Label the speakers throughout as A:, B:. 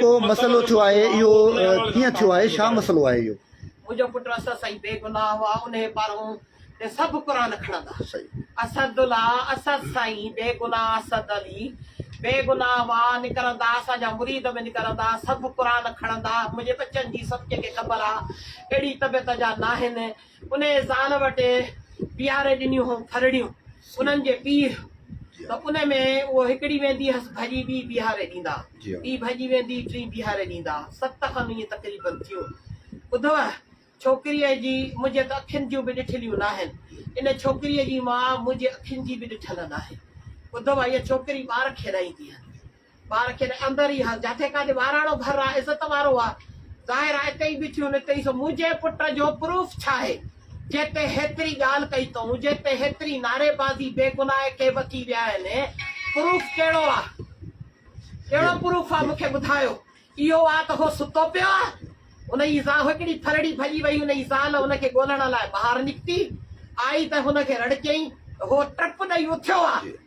A: ڪو مسئلو ٿيو آهي اهو ڪيئن ٿيو آهي ڇا مسئلو آهي اهو. منهنجو پٽ اسد
B: سائين بي گناهه هئا انهي پارهون تي سڀ قرآن کڻندا اسد الله اسد سائين بي گناهه اسد علي بي گناهه هئا نڪرندا اسان جا مريد به نڪرندا سڀ قرآن کڻندا منهنجي ٻچن جي سڀ ڪنهن کي خبر آ اهڙي طبيعت جا ناهن انهيء زال وٽ پياري ڏنيون هئم ڦرڙيون انهن جي پيء ته ان ۾ اهو هڪڙي ويندي هيس ڀڄي ٻي بيهاري ڏيندا ٻي ڀڄي ويندي ٽين بيهاري ڏيندا ست کن ائين تقريبن ٿيون ٻڌوء ڇوڪريء جي منهنجي ته اکين جون به ڏٺليون ناهن ان ڇوڪريء جي ماء منهنجي اکين جي به ڏٺل ناهي ٻڌوء هيء ڇوڪري ٻار کيڏائيندي هئي ٻار کي ته اندر ئي ها، جاٿي ڪاٿي ٻاراڻو گهر آ، عزت وارو آ، ظاهر آ اتي ئي بيٺيون هن چيس منهنجي پٽ جو پروف ڇاهي جنهن تي هيتري ڳالهه ڪئي تئون، جنهن تي هيتري نعري بازي بي گناهه کي وڪي ويا آهن، پروف ڪهڙو آ، ڪهڙو پروف آ مون کي ٻڌايو، اهو آ ته هو ستو پيو آ، هن جي زال هڪڙي ڦرڙي ڀڄي وئي، هن جي زال هن کي ڳولڻ لاء ٻاهر نڪتي، آئي ته هن کي رڙڪيائين ته هو ٽپ ڏئي اٿيو آ.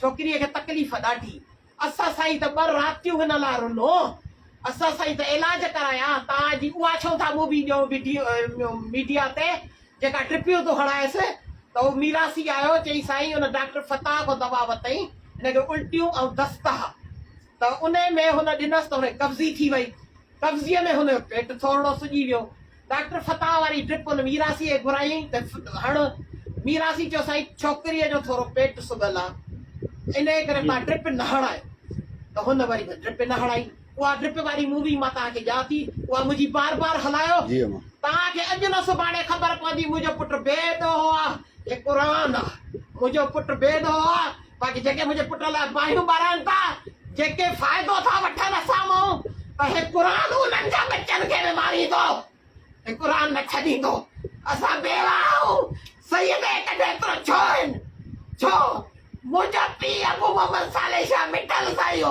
B: ڇوڪريء کي تڪليف ڏاڍي. اسان سائين ته ٻه راتيون هن لاء رنو. اسان سائين ته علاج ڪرايا. توهان جي اها ڇو ٿا مووي ڏيو وڊيو ميڊيا تي جيڪا ٽپيون ٿو هڻائيس ته اهو ميراثي آيو. چئي سائين ان ڊاڪٽر فتاح کان دوا ورتائين. هن کي الٽيون ۽ دست ها. ته انهي ۾ هن ڏنس ته هن قبضي ٿي وئي. قبضيء ۾ هن جو پيٽ ٿورڙو سڄي ويو. ڊاڪٽر فتاح واري ڊرپ ان ميراثي کي گهرائيائين ته هڻ. ميراثي چيو سائين ڇوڪريء جو ٿورو پيٽ سگهل آ. انهي ڪري تان ڊرپ نه هڻايو. ته هن وري به ڊرپ نه هڻائي. اها ڊرپ واري مووي مان تان کي ڄان ٿي. اها منهنجي بار بار هلايو. تان کي اڄ نه سڀاڻي خبر پوندي منهنجو پٽ بي دهو آ. هي قرآن آ. منهنجو پٽ بي دهو آ. باقي جيڪي منهنجي پٽ لاء باهيون ٻارائين ٿا، جيڪي فائدو ٿا وٺن اسان مان، ته هي قرآن انهن جا ٻچن کي به ماريندو ۽ قرآن نه ڇڏيندو. اسان بيوه آهيون. سيد اهي ڪڍي ايترو ڇو هن؟ ڇو منهنجا پيء ابو محمد صالح شاهه مٺل سائيو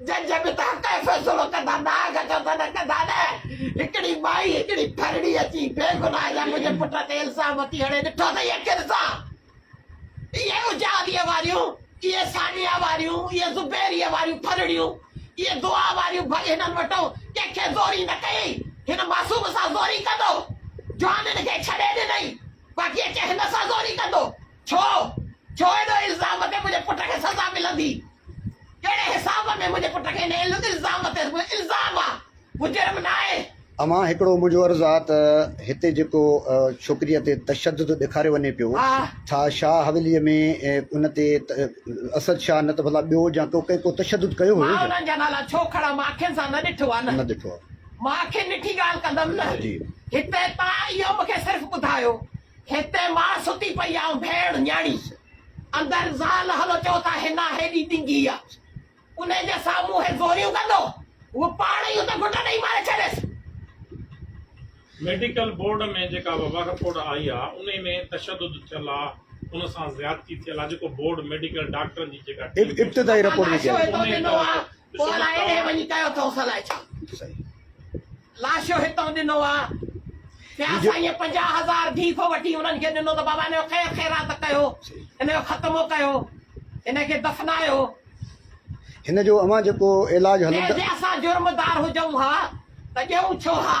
B: جج به ته حق ۽ فيصلو ڪندا داغ جو ته نه ڪندا نه هڪڙي مائي هڪڙي ڦرڙي اچي بي گناهه جا منهنجي پٽ تي الزام اٿي هڻي ڏٺو اٿئي اکين سان اهي اجاويء واريون اهي ثانيه واريون اهي زبيريء واريون ڦرڙيون اهي دعا واريون ڀڳ هنن وٽون ڪنهن کي زوري نه ڪيئي هن معصوم سان زوري ڪندو جوانين کي ڇڏي ڏنئي باقي اچي هن سان زوري ڪندو. ڇو؟ ڇو ان الزام تي منهنجي پٽ کي سزا ملندي؟ ڪهڙي حساب ۾ منهنجي پٽ کي ان الزام تي الزام آ، هو جرم ناهي. امان هڪڙو منهنجو
A: عرض آ ته هتي جيڪو ڇوڪريء تي تشدد ڏيکاريو وڃي پيو، ڇا شاهه حويليء ۾ ان تي اسد شاهه نه ته ڀلا ٻيو جا ڪو ڪنهن ڪو تشدد ڪيو هيو ڇا؟ مان انهن جا نالا ڇو
B: کڻان، مان اکين سان نه ڏٺو آ نه. نه ڏٺو آ. مان
A: اکين ڏٺي
B: ڳالهه ڪندم نه. جي. هتي تان اهو مون کي صرف ٻڌايو. هتي ماء ستي پئي آ ۽ ڀيڻ نياڻي. اندر زال هلو چئو ٿا حنا هيڏي ڊنگهي آ. انهي جي سامهون هي زوريون ڪندو. هوء پاڻ ئي اتي گهٽ ڏئي ماري ڇڏيس.
C: ميڊيڪل بورڊ ۾ جيڪا وبا رپورٽ آئي آ انهي ۾ تشدد ٿيل آ ان سان زيادتي ٿيل آ جيڪو بورڊ ميڊيڪل ڊاڪٽرن جي جيڪا ٽيم ابتدائي رپورٽ ۾
A: چيو ويو آ.
B: پوء الائي اهي وڃي ڪيو اٿئوس الائي ڇا. لاشو هتئون ڏنو آ. پيا سائين پنجاهه هزار ڀيڪ وٺي انهن کي ڏنو ته بابا هن جو خير خيرات ڪيو. هن جو ختمو ڪيو. هن کي دفنايو.
A: هن جو اوهان جيڪو علاج هلندا. ۽ جي
B: اسان جرمدار
A: هجئون
B: ها ته ڏيئون ڇو ها.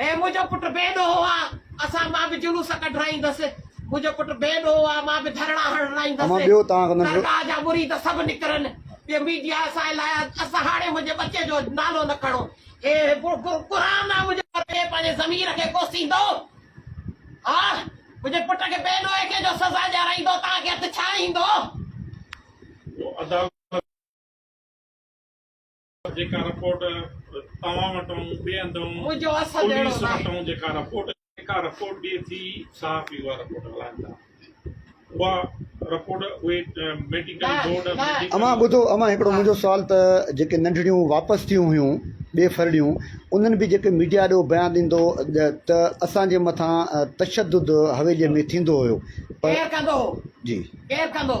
B: اي منهنجو پٽ بي ڏوهه آ اسان مان به جلوس ڪڍرائيندس منهنجو پٽ بي ڏوهه آ مان به ڌرڻا هڻرائيندس درگاهه
A: جا مريد سڀ
B: نڪرن ٻيو ميڊيا اسان لاء اسان هاڻي منهنجي ٻچي جو نالو نه کڻو اي قرآن آ منهنجو پٽ پنهنجي ضمير کي ڪوسيندو ها منهنجي پٽ کي بي ڏوهه کي جو سزا ڏيارائيندو توهان کي هٿ ڇا ايندو
C: جيڪا رپورٽ توهان وٽون ٻئي هنڌون پوليس وٽون جيڪا رپورٽ جيڪا رپورٽ ڏئي ٿي صحافي اها رپورٽ هلائين ٿا اها رپورٽ اهي ميڊيڪل بورڊ اوهان ٻڌو
A: اوهان هڪڙو منهنجو سوال ته جيڪي ننڍڙيون واپس ٿيون هيون ٻي ڦرڙيون انهن به جيڪي ميڊيا ڏو بيان ڏيندو ته اسان جي مٿان تشدد حويلي ۾ ٿيندو هيو پر
B: جي ڪير
A: ڪندو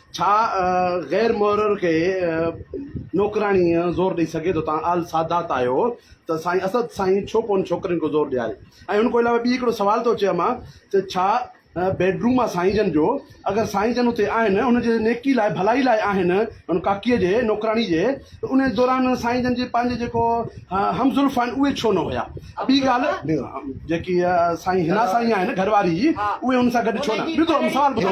D: ڇا غير محرر کي نوڪراڻي زور ڏئي سگهي ٿو تان آل سادات آهيو ته سائين اسد سائين ڇو ڪون ڇوڪرين کي زور ڏياري ۽ ان کون علاوه ٻي هڪڙو سوال ٿو اچي امان ته ڇا بيڊروم آهي سائين جن جو اگر سائين جن اتي آهن ان جي نيڪي لاء ڀلائي لاء آهن ان ڪاڪي جي نوڪراڻي جي ته ان دوران سائين جن جي پنهنجي جيڪو هم زلف آهن اهي ڇو نه هيا؟ ٻي ڳالهه جيڪي سائين حنا سائين آهن گهر واري اهي ان سان گڏ ڇو نه؟ ٻڌو امه سوال ٻڌو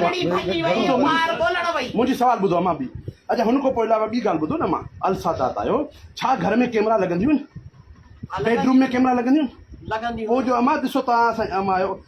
D: منهنجي سوال ٻڌو امه ٻي اچا هن کان پوء علاوه ٻي ڳالهه ٻڌو نه امه السادات آهيو ڇا گهر ۾ ڪيمرا لڳنديون آهن؟ بيڊروم ۾ ڪيمرا لڳنديون آهن؟ پوء جو
B: امه ڏسو توهان
D: سائين امه آهيو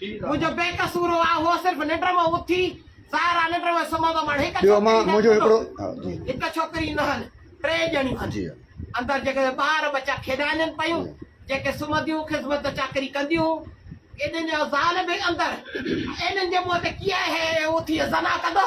E: منهنجو بي قصور
B: هو آء هو صرف ننڊ مان اٿي سارا ننڊ ۾ سمهندو مان هڪ ٻيو مان منهنجو هڪڙو
A: هڪ ڇوڪري
B: نه هن ٽي ڄڻيون هن اندر
A: جيڪي
B: ٻار بچا کيڏائن پيون جيڪي سمهنديون خدمت چاڪري ڪنديون انهن جو زال به اندر انهن جي منهن تي ڪيئن هي اٿي زنا ڪندو